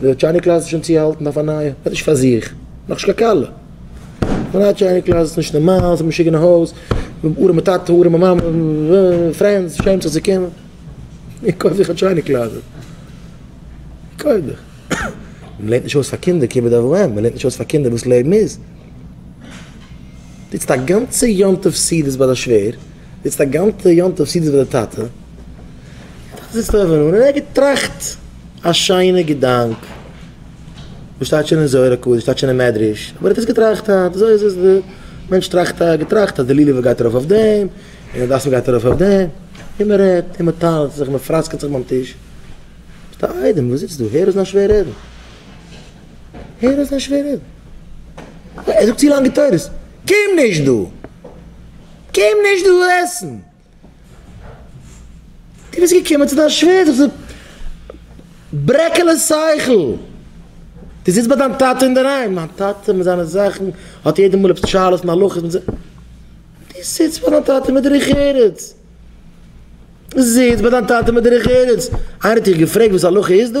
די טשייניק קלאס איז שוין צוהאלטן אויף א נייע עס איז נישט פאר זיך נאך נישט קיין כלה די נייע טשייניק קלאס איז נישט נארמאל ס'איז משוגע אין הויז ארעמע טאטע ארעמע מאמע פרענדס שעמט זיך צו קומען איך קויף זיך א טשייניק קלאזעט איך קויף זיך מען לערנט נישט אויס פאר קינדער כיבוד אב ואם מען לערנט נישט אויס פאר קינדער וואס לעבן איז טוטסט א גאנצע יום טוב סעודות ביי די שווער. איצט א גאנטע יום טוב סידי ווען די טאטע האט זיך געזעצט אויבן אן און ער האט געטראכט א שיינע געדאנק וואס שטייט שוין אין זוהר הקדוש שטייט שוין אין מדרש אבער ער האט עס געטראכט היינט אזוי איז עס די מענטש טראכט א געטראכט אז די לולב גייט ארויף אויף דעם און די דאווען גייט ארויף אויף דעם און מען רעדט און מען טאנצט זיך מען פראסקעט זיך ביים טיש ביסט א איידעם וואס זיצט דא הער אויס דיין שווער רעדן הער אויס דיין שווער רעדן ער זאגט צו לאנגע תורות קום נישט דא. געב נישט דאס עסן! דו ביסט געקומען צו דיין שווער זיך צו ברעקעלען שכל! דו זיצט ביי דיין טאטע אינדערהיים, דיין טאטע מיט זיינע זאכן האט יעדע מאל עפעס שאלות און הלכות מיט זיי, דו זיצט ביי דיין טאטע מיט דרך ארץ! זיץ ביי דיין טאטע מיט דרך ארץ! איינער האט דיך געפרעגט וואס הלכה איז דא?